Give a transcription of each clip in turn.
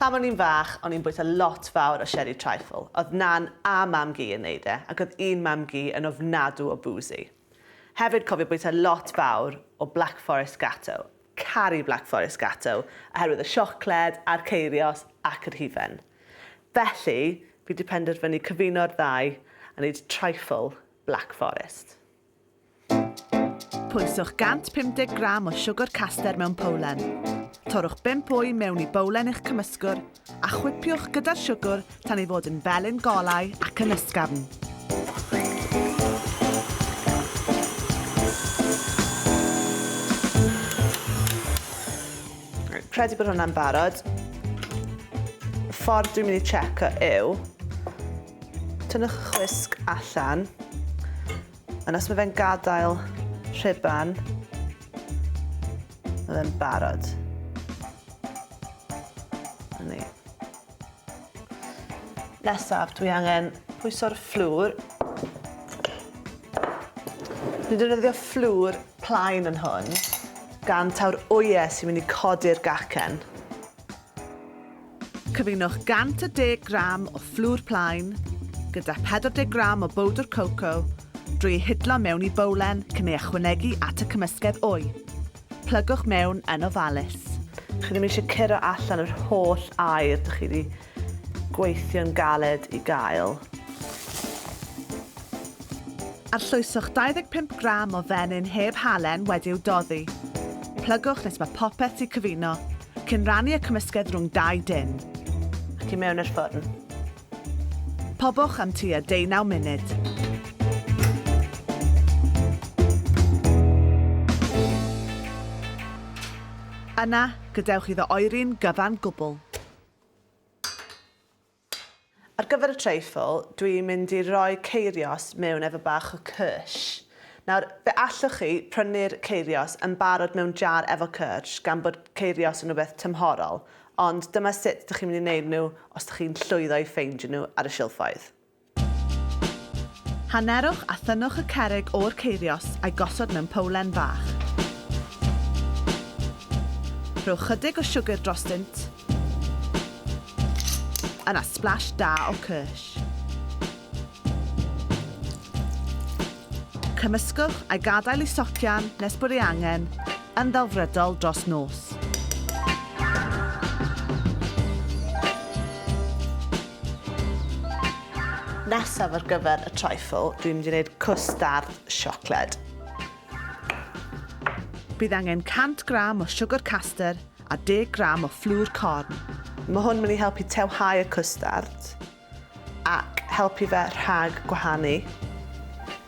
Pan o'n i'n fach, o'n i'n bwyta lot fawr o sherry trifle. Oedd nan a mam-gu yn neud e, ac oedd un mam-gu yn ofnadw o boozy. Hefyd cofio bwyta lot fawr o Black Forest Gatto. Caru Black Forest Gatto, oherwydd y siocled, a'r ceirios, ac yr hufen. Felly, fi wedi penderfynu cyfuno'r ddau a neud trifle Black Forest. Pwyswch 150 gram o siwgr caster mewn powlen. Torrwch 5 wy mewn i bowlen eich cymysgwr a chwipiwch gyda'r siwgr tan ei fod yn felyn golau ac yn ysgafn. Credu bod hwnna'n barod. Y ffordd dwi'n mynd i checo yw, tynnwch y chwisg allan, Ond os mae fe'n gadael rhuban, mae fe'n barod. Yni. Nesaf, dwi angen pwyso'r fflwr. Dwi'n defnyddio fflwr plaen yn hwn, gan taw'r oie sy'n mynd i codi'r gacen. Cyfunwch 110 gram o fflwr plaen gyda 40 gram o bowdr coco drwy ei hidlo mewn i bowlen cyn ei ychwanegu at y cymysgedd wy. Plygwch mewn yn ofalus. Chi ddim eisiau curo allan yr holl aer dych chi wedi gweithio'n galed i gael. Arllwyswch 25 gram o fenyn heb halen wedi'w doddi. Plygwch nes mae popeth 'di cyfuno, cyn rannu y cymysgedd rhwng dau dun. Ac i mewn i'r ffwrn. Pobwch am tua deunaw munud. Yna, gadewch iddo oeri'n gyfan gwbl. Ar gyfer y treifl, dwi'n mynd i roi ceirios mewn efo bach o cyrsh. Nawr, fe allwch chi prynu'r ceirios yn barod mewn jar efo cyrsh, gan bod ceirios yn rhywbeth tymhorol, ond dyma sut dych chi'n mynd i wneud nhw os dych chi'n llwyddo i ffeindio nhw ar y silffoedd. Hanerwch a thynnwch y cerrig o'r ceirios a'i gosod mewn powlen fach. Rhowch chydig o siwgr drostynt. A na splash da o kirsch. Cymysgwch a gadael i socian nes bod ei angen yn ddelfrydol dros nos. Nesaf ar gyfer y trifle, dwi'n mynd i wneud cwstard siocled. Bydd angen 100 gram o siwgr caster a 10 gram o fflwr corn. Mae hwn yn mynd i helpu tewhau y cwstard ac helpu fe rhag gwahanu.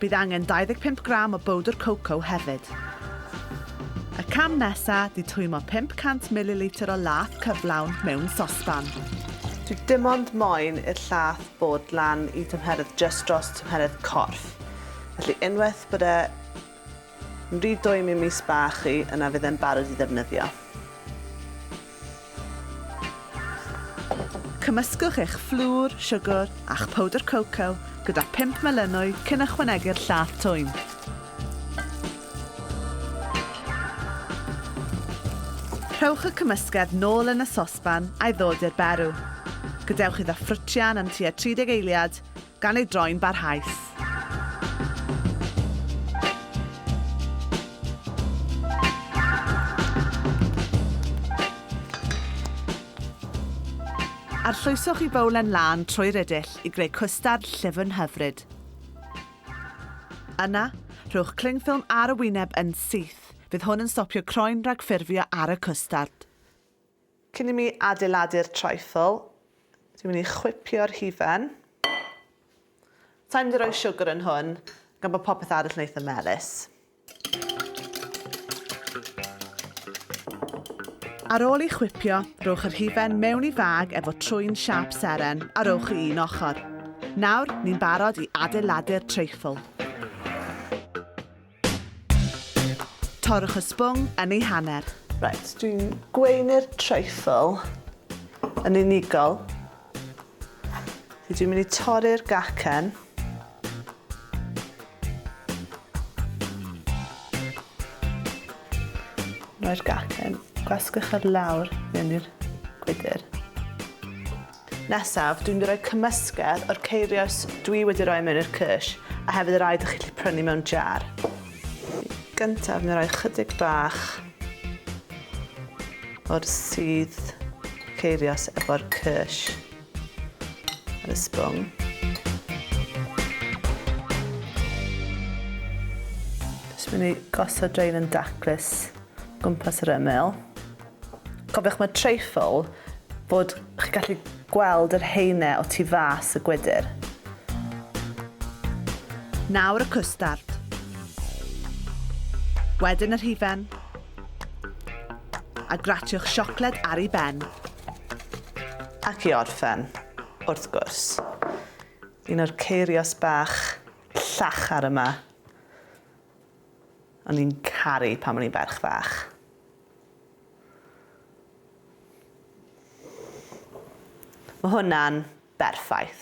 Bydd angen 25 gram o bowdr coco hefyd. Y cam nesa, di twymo 500 mililitr o lath cyflawn mewn sosban. Dwi dim ond moyn i'r llath bod lan i tymheredd jyst dros tymheredd corff. Felly unwaith bod e Rydw i'm i'm is ba chi yna fydd e'n barod i ddefnyddio. Cymysgwch eich fflwr, siwgr a'ch powdr coco gyda phump melynwy cyn ychwanegu'r llath twym. Rhowch y cymysgedd nôl yn y sosban a'i ddod i'r berw. Gadewch iddo ffrwtio'n am tua 30 eiliad, gan ei droi'n barhaus. Arllwyswch i fowlen lân trwy rydyll i greu cwstard llyfn hyfryd. Yna, rhowch clingffilm ar y wyneb yn syth, fydd hwn yn stopio croen rhag ffurfio ar y cwstard. Cyn i mi adeiladu'r trifle, dwi'n mynd i chwipio'r hufen. Sa i'n mynd i roi siwgr yn hwn, gan bod popeth arall yn eitha melys. Ar ôl i chwipio, rhowch yr hufen mewn i fag efo trwyn siâp seren a rhowch i un ochr. Nawr, ni'n barod i adeiladu'r trifle. Torrwch y sbwng yn ei hanner. Reit, dwi'n gweinu'r treifl yn unigol. Dwi'n mynd i torri'r gacen. Rhoi'r gacen, gwasgwch ar lawr mewn i'r gwydr. Nesaf, dwi'n rhoi cymysgedd o'r ceirios dwi wedi rhoi mewn i'r cysh, a hefyd y rhai dych chi'n gallu prynu mewn jar. Gyntaf, dwi'n rhoi chydig bach o'r sydd ceirios efo'r cysh ar y sbwng. Jyst mynd i gosod drain yn daclus gwmpas yr ymyl. Cofiwch mae treifl fod chi gallu gweld yr haene o tu fas y gwydr. Nawr y cwstard. Wedyn yr hufen. A gratiwch siocled ar ei ben. Ac i orffen, wrth gwrs, un o'r ceirios bach llachar yma. O'n i'n caru pan o'n i'n ferch fach. Mae hwnna'n berffaith.